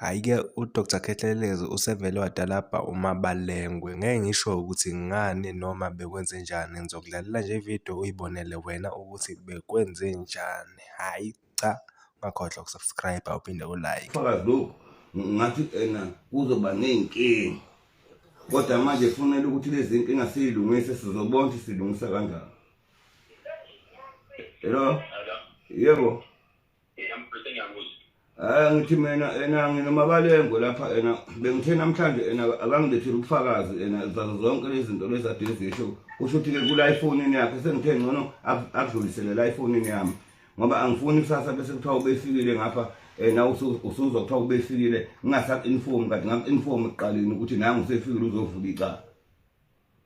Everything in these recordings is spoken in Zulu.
Hhayi-ke uDr Khehlelezi usevele wadalabha uMabalengwe. Ngeke ngisho ukuthi ngani noma bekwenzenjani, ngizokudlalela nje ividiyo uyibonele wena ukuthi bekwenzenjani. Hhayi cha, ungakhohlwa uku-subscribe-a uphinde u-like. Fakazi lokhu ngathi ena kuzoba ney'nkinga kodwa manje kufanele ukuthi lezi nkinga siyilungise sizobona ukuthi silungisa kanjani. Hello? Yebo. hayi ngithi mina ena nginomabalengo lapha ena bengithe namhlanje ena akangilethile ubufakazi ena zazo zonke lezi zinto lezi ade zisho kusho ukuthi-ke kula efonini yakhe sengithe ngcono akudlulisele la efonini yami ngoba angifuni kusasa bese kuthiwa ubefikile ngapha Eh, na usuzwa kuthiwa ubefikile ngingasaku-inform kanti ngaku-inform ekuqaleni ukuthi nangu usefikile uzovula icala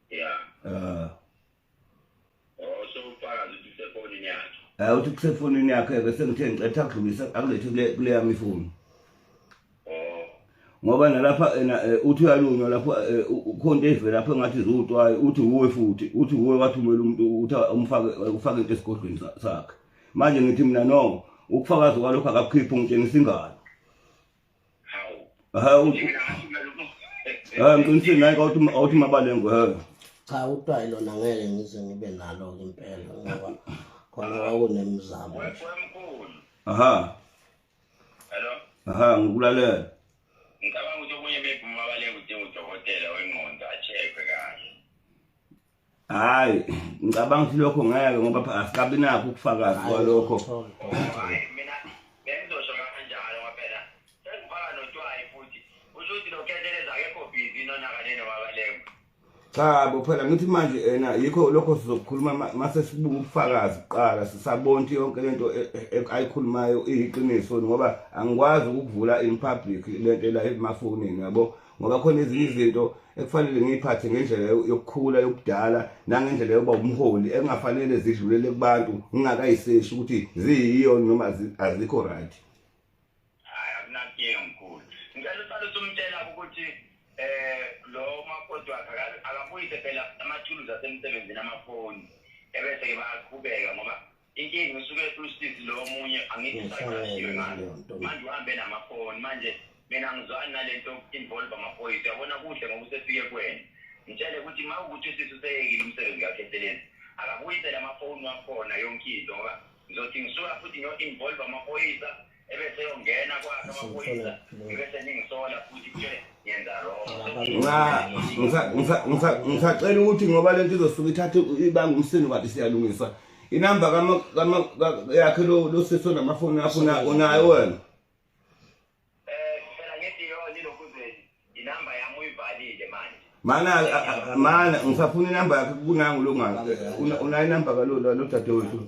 ya um eh. hayi uthi kusefonini yakhe ke sengithe ngicetha kudlulisa akulethe kule kule yami ifoni ngoba nalapha ena eh, uthi uyalunywa lapho eh, ukhonto evela lapho engathi ziwutwayo uthi uwe futhi uthi uwe wathumela umuntu uthi umfake ufake into esigodlweni sakhe manje ngithi mina no ukufakaza kwalokho akakukhiphi ungitshengisa ingalo hawu hayi ngiqinisile naye kawuthi awuthi mabalengu hayi cha utwayi lona ngeke ngize ngibe nalo ke impela ngoba khona kwakunemizamo aha hello aha ngikulalela ngicabanga ukuthi okunye maybe umabalengu udinga udokotela wengqondo a-check-we kahle hayi ngicabanga ukuthi lokho ngeke ngoba asikabi nakho ukufakazi kwalokho cha bo phela ngithi manje ena yikho lokho sizokukhuluma mase sibuka ubufakazi kuqala sisabonti yonke lento e, e, e, ayikhulumayo iyiqiniso ngoba angikwazi ukuvula in public lento la emafonini yabo ngoba khona ezinye izinto ekufanele ngiyiphathe ngendlela yokukhula yokudala nangendlela yokuba umholi engafanele zidlulele kubantu ngingakayiseshi ukuthi ziyiyo noma azikho right hayi akunakinga mkhulu ngicela uqale usumtshela ukuthi eh lo makoti wakhe akabuyise phela amathuluzi asemsebenzini amafoni ebese-ke bayaqhubeka ngoba inkinga usuke usizi lo omunye angithi saqashiwe ngalo manje uhambe namafoni manje mina ngizwani nalento involve amaphoyisa uyabona kuhle ngoba usefike kwena ngitshele ukuthi ma ukuthi usisi useyekile umsebenzi kakhe eselenzi akabuyisele amafoni wakhona yonke into ngoba ngizothi ngisuka futhi ngiyo-involve amaphoyisa ngisacela ukuthi ngoba lento izosuke ithathe ibanga umsini kade siyalungisa inamba yakhe lo sisi onamafoni akho unayo wena mana mana ngisafuna inamba yakhe kunangu lo ngalo unayo inamba kalodwa lo dadewethu